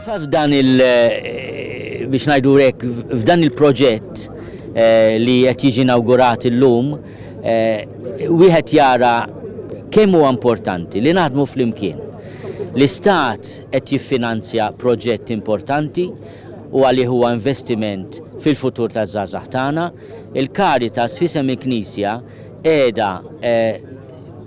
Fil-fatt f'dan il biex ngħidu hekk f'dan il-proġett eh, li qed jiġi inawgurat illum eh, wieħed jara kemm huwa importanti li naħdmu flimkien. L-Istat qed jiffinanzja proġett importanti u għalih huwa investiment fil-futur taż-żgħażagħ tagħna. Il-Caritas fisem il-Knisja qiegħda eh,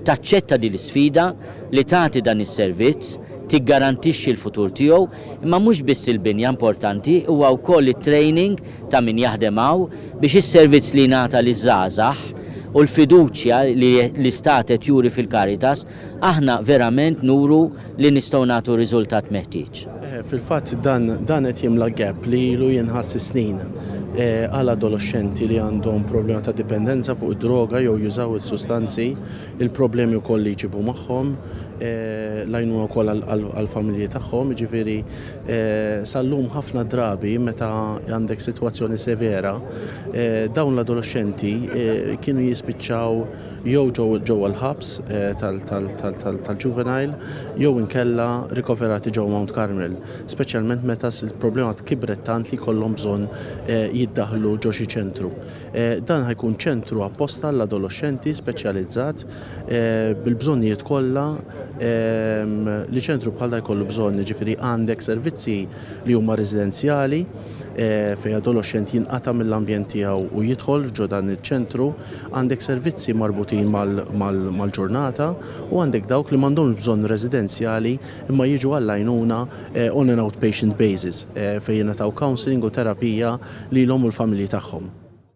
taċċetta din l-isfida li tagħti dan is-servizz, tiggarantixxi l-futur tiegħu, imma mhux biss il-binja importanti, huwa wkoll it-training ta' min jaħdem hawn biex is-servizz li jingħata liż-żgħażagħ u l-fiduċja li l-Istat qed juri fil-Caritas, aħna verament nuru li nistgħu nagħtu r-riżultat meħtieġ. Fil-fatt dan qed jimla gap li ilu jinħass is-snin għal adoloxxenti li għandhom problema ta' dipendenza fuq id-droga jew jużaw is-sustanzi, il-problemi wkoll li jġibu magħhom, l-għajnuna wkoll għall-familji tagħhom, jiġifieri sal-lum ħafna drabi meta għandek sitwazzjoni severa dawn l-adoloxxenti kienu jispiċċaw jew ġewwa l-ħabs tal-juvenile jew inkella rikoverati ġewwa Mount Carmel, speċjalment meta l-problema kibret tant li jkollhom bżonn jiddaħħlu ġo xi ċentru. Dan ħa jkun ċentru apposta għall-adoloxxenti speċjalizzat bil-bżonnijiet kollha li ċentru bħal dan jkollu bżonn, jiġifieri għandek servizzi li huma residenzjali, Fejn adoloxxent jinqata' mill-ambjent tiegħu u jidħol ġo dan iċ-ċentru, għandek servizzi marbutin mal-ġurnata u għandek dawk li m'għandhomx bżonn residenzjali imma jiġu għall-għajnuna on an outpatient basis fejn jingħataw counselling u terapija lilhom u l-familji tagħhom.